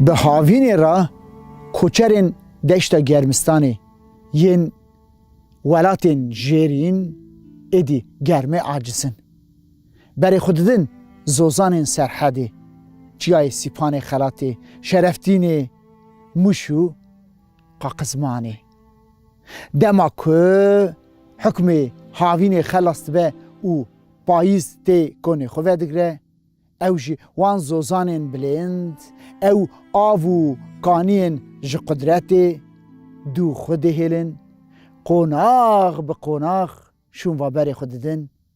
Bi havînê re koçerên deşta Germistanê yên welatên jêrîn êdî germê aciz in. Berê xwe didin zozanên serhedê, çiyayê Sîpanê, Xelatê, Şereftînê, Mûş û Qaqizmanê. Dema ku hukmê havînê xelas dibe û payîz tê konê xwe vedigre, ew ji wan zozanên bilind, ew av û kaniyên ji qudretê dû xwe dihêlin, qonax bi qonax şûnva berê xwe didin,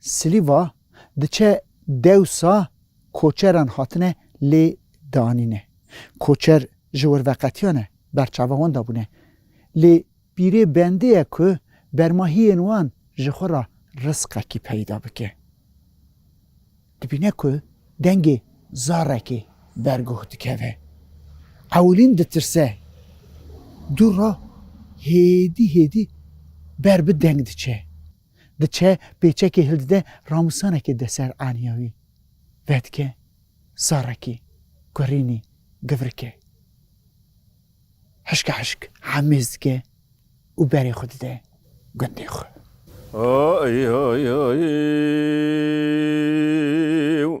Silîva diçe dewsa koçeran hatine lê danîne. Koçer ji wirveqetiyan e berçava wan de bûne. Lê pîrê bendê ye ku bermahiyên wan ji xwe re risqekî peyda bike. Dibîne ku dengê zarekê ber guh dikeve. Ewilîn ditirse. Dûr re hêdî hêdî ber bi deng diçe. Diçe pêçekê hildide ramusanekê de ser aniya wî. Vedike, Sarekî, Kurînî, Givrike. Hişka hişk hemêz dike û berê xwe dide gundê xwe. Oy oy oy oy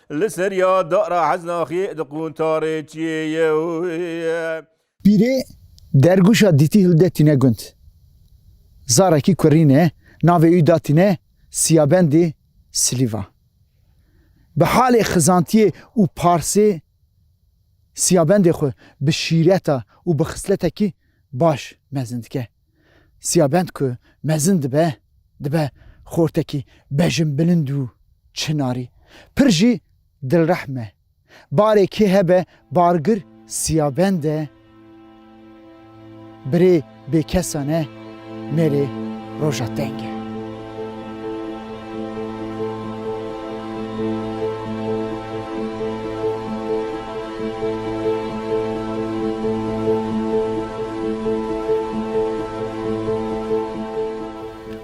Li seriya dara Heznaxê di quntarê çiyê ye. Pîrê dergûşa dîtî hilde tîne gund. Zarekî kurîne navê wî da tîne Siyabendê Silîva. Bi halê xizantiyê û parsê Siyabendê xwe bi şîreta û bi xisletekî baş mezin dike. Siyabend ku mezin dibe, dibe xortekî bejinbilind û çinarî. Pir jî dilrehm e. Barê kê hebe bargir siyabend e, birê bêkesan e, mêrê roja teng e.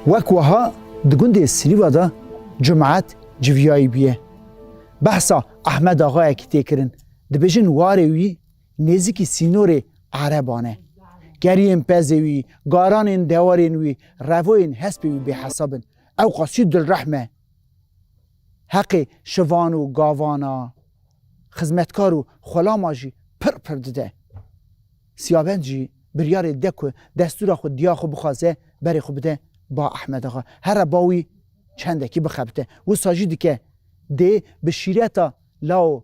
Wek weha di gundê Silîva de cumat civiyayî bûye. Behsa Ehmed Axayekî tê kirin. Dibêjin warê wî Nêzîkî sînorê ereban e. Geriyên pezê wî, garanên dewarên wî, revoyên hespê wî bêhesab in. Ewqas çi dilrehm e! Heqê şivan û gavan a, xizmetkar û xulama jî pir pir dide. Siyabend jî biryarê dide ku destûra xwe diya xwe bixwaze berê xwe bide ba Ehmedaxa. Here ba wî çendekî bixebite. Wisa jî dike dê bi şîreta lawo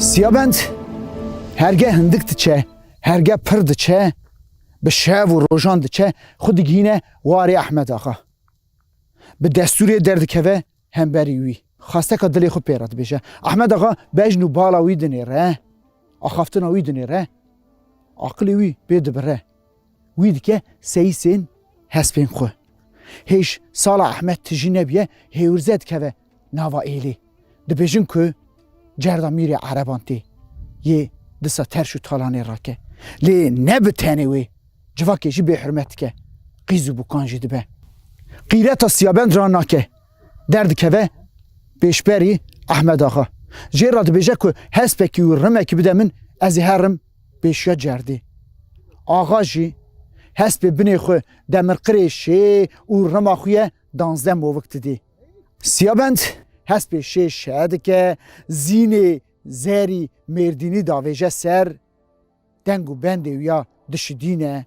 Siyabend herge hindik diçe, herge pir diçe, bi şev û rojan diçe, xwe digihîne warê Ehmed Axa. Bi destûrê derdikeve hemberî wî. Xasteka dilê xwe pê re dibêje. Ehmed Axa bejn û bala wî dinêre, axaftina wî dinêre, aqilê wî pê dibire. Wî dike seyîsên hespên xwe. Hêj sala Ehmed tijî nebiye hêwirze dikeve nava êlê. Dibêjin ku cerda mîrê ereban tê yê disa terş û talanê rake. Lê ne bi tenê wê civakê jî bêhurmet dike, qîz û bûkan jî dibe. Qîreta Siyabend ra nake. Derdikeve pêşberî Ehmed axa. Jê re dibêje ku hespekî û rimekî bide min, ez ê herim Pêşiya cerdê. Axa jî hespê binê xwe demirqirê şê û rima xwe ye danzdeh movik didê. Siyabend hespê şê şe dike, zînê zerî mêrdînî davêje ser, deng û bendê wî ya dişidîne.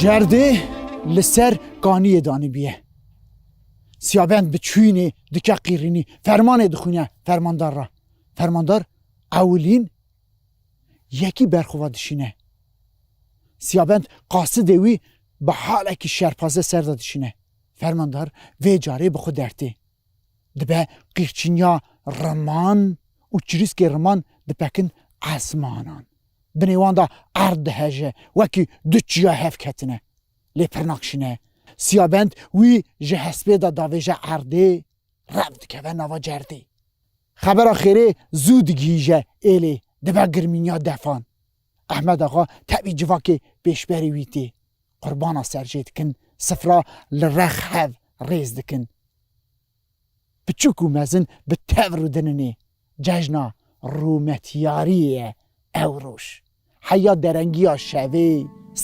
Cerdê li ser kaniyê danîbûye. Siyabend bi çûyînê dike qîrînî, fermanê dixwîne fermandar re. Fermandar ewilîn yekî berxwe dişîne. Siyabend qasidê wî bi halekî şerpaze ser de dişîne. Fermandar vê carê bi xwe dertê. Dibe qîrçiniya riman û çirîskê riman dipekin esmanan. Binê wan de erd diheje, wekî du çiya hev ketine. Lê pirnak şine. Siyabend wî ji hespê de davêje erdê, rev dikeve nava cerdê. Xebera xêrê zû digihîje êlê, dibe girmîniya defan. Ehmed Axa tevî civakê pêşberî wî tê. Qurbana serjê dikin, sifra li rex hev rêz dikin. Piçûk û mezin bi tev rûdinin ê. Cejna rûmetiyariyê ye ew roj. Heya derengiya şevê,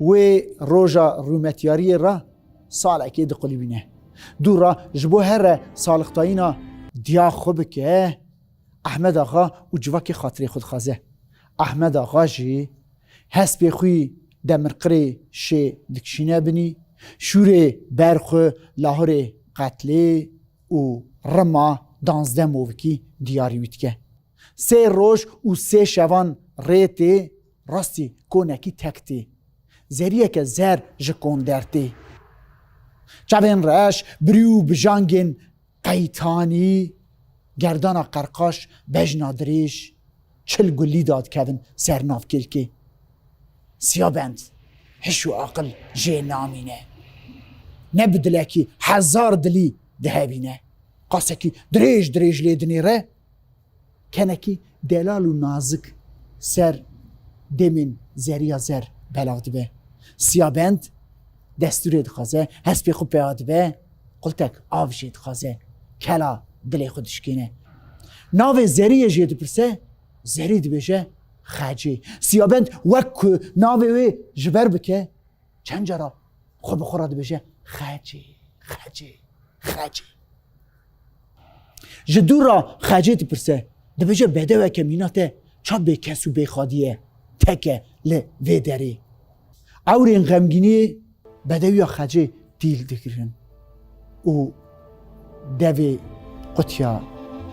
Wê roja rûmetyariyê re salekê diqulîbîne. Dû re ji bo here salixtayîna diya xwe bike, Ehmed Axa û civakê xatirê xwe dixwaze. Ehmed Axa jî hespê xwî demirqirê şê dikişîne binî, şûrê ber xwe lahorê qetlê û rima danzdeh movikî diyarî wî dike. Sê roj û sê şevan rê tê Rastî konekî tek tê. Zeriyeke zer ji konder tê. Çavên reş, birî û bijangên qeytanî, gerdana qerqaş, bejna dirêj, çil gulî da dikevin ser nav kêlkê. Siyabend, hiş û aqil jê namîne. Ne bi dilekî, hezar dilî dihevîne. Qasekî dirêj dirêj lê dinêre, Kenekî delal û nazik ser demên zerîya zer belav dibe. Siyabend destûrê dixwaze, hespê xwe pêya dibe, qultek av jê dixwaze, kela dilê xwe dişkêne. Navê zerîyê jê dipirse, zerî dibêje Xecê. Siyabend wek ku navê wê ji ber bike, çend cara xwe bi xwe re dibêje Xecê, Xecê, Xecê. Ji dûr re xecê dipirse, dibêje bedeweke mîna te ça bêkes û bêxadî ye, teke li vê derê. Ewrên xemgîniyê bedewiya xecê dîl digirin û devê qutiya.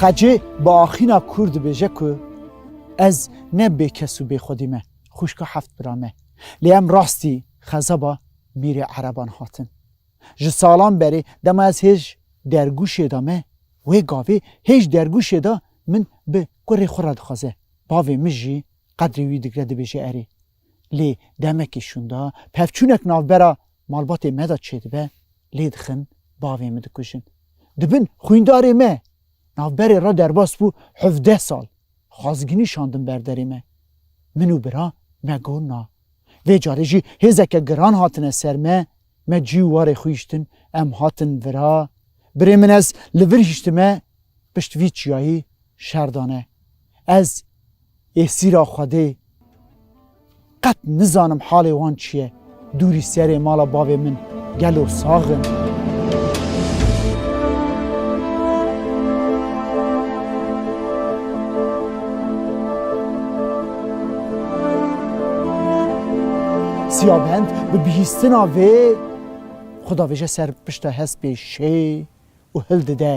Xecê bi axîna kûr dibêje ku ez ne bêkes û bêxwedî me, xwişka heft bira me. Lê em rastî xezeba mîrê ereban hatin. Ji salan berê dema ez hêj dergûşê de me, wê gavê hêj dergûşê de min bi kurê xwe re dixwaze. Bavê min jî qedrê wî digre dibêje erê. Lê demekê şûnda pevçûnek navbera Malbatê me de çêdibe, lê dixin, bavê min dikujin. Di bin xwîndarê me, navberê re derbas bû hevdeh sal, xwazginî şandin ber derê me. Min û bira me got na. Vê carê jî hêzeke giran hatine ser me, me cî û warê xwe hiştin, em hatin vira. Birê min ez li vir hiştime, pişt vî çiyayî şer dane. Ez ê sîra Xwedê qet nizanim halê wan çi ye, dûrî serê mala bavê min gelo sax in? Siyabend bi bihîstina vê xwe davêje ser pişta hespê şê û hildide